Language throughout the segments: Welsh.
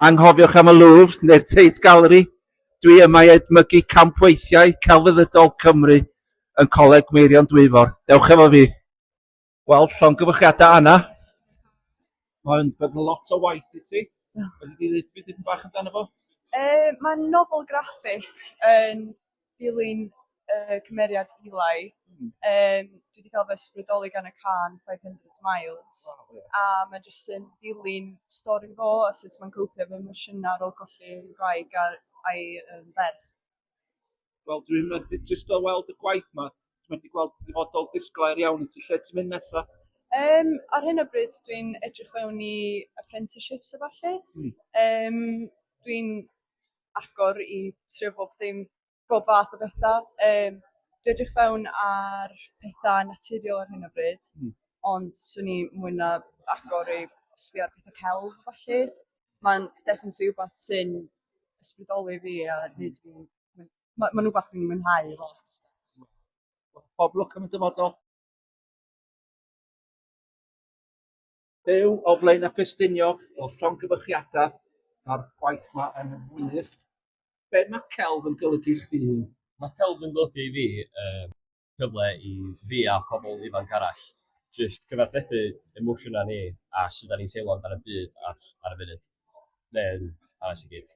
Anghofiwch am y Louvre neu'r Tate Gallery, dwi yma i edmygu campweithiau celfyddydol Cymru yn Coleg Meirion Dwyfor. Dewch efo fi! Wel, llongyfarchiadau Anna. Mae'n bod yn lot o waith i ti. Fedri di ddeud fi dipyn bach amdano fo? Yy mae'n nofel graffig yn dilyn y cymeriad Eli yym dwi 'di ca'l fy ysbrydoli gan y cân five hundred miles a ma' jyst yn dilyn stori fo a sut ma'n copio efo emosiyna ar ôl colli 'i wraig a a'i yym ferch. Wel dwi'n methu jyst o weld y gwaith 'ma dwi methu gweld dyfodol disglair iawn i ti lle ti'n mynd nesa? Yym ar hyn o bryd dwi'n edrych fewn i apprenticeships a ballu. Hmm. Yym dwi'n agor i trio bob dim pob fath o betha yym dwi edrych fewn ar petha naturiol ar hyn o bryd. Hmm. Ond swn i mwy na agor i sbio ar petha celf felly. Mae'n definitely wbath sy'n ysbrydoli fi a neud fi myn- ma' ma'n wbath dwi'n mwynhau lot. Pob lwc yn y dyfodol. Byw o Flaenau Ffestiniog, o llongyfarchiadau, mae'r gwaith yma yn wych. Be mae celf yn golygu i chdi? Mae celf yn golygu i fi um, cyfle i fi a pobl ifanc arall jyst cyfathrebu emosiynau ni a sut da ni'n teimlo amdano'r byd ar, ar y funud, neu'n hanes i gyd.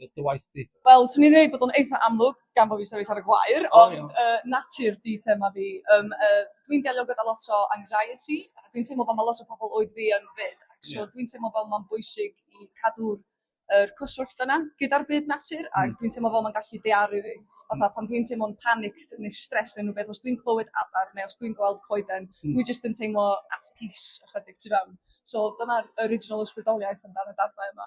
dy dy waith di? Wel, swn i'n dweud bod o'n eitha amlwg gan bod fi sefyll ar y gwair, O, ond iawn. yy, natur di thema fi. Um, uh, dwi'n delio gyda lot o anxiety, a dwi'n teimlo fel mae lot o pobl oed fi yn 'fyd. Ac so Ie. dwi'n teimlo fel mae'n bwysig i cadw'r er, cyswllt yna gyda'r byd natur, ac Mm. dwi'n teimlo fel mae'n gallu dearu fi. Fatha pan dwi'n teimlo'n panicked neu stress neu rhywbeth, os dwi'n clywed adar neu os dwi'n gweld coeden, Mm. dwi jyst yn teimlo at peace ychydig tu fewn. So dyna'r original ysbrydoliaeth amdano darnau yma.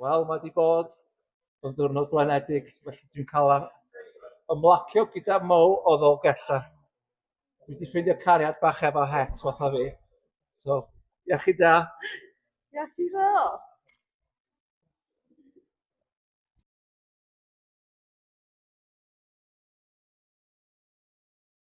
Wel, mae wedi bod yn ddiwrnod blanedig, felly dwi'n cael ymlacio gyda mow o ddolgella. Dwi wedi ffeindio cariad bach efo het fatha fi. So, iechyd da. Iechyd da.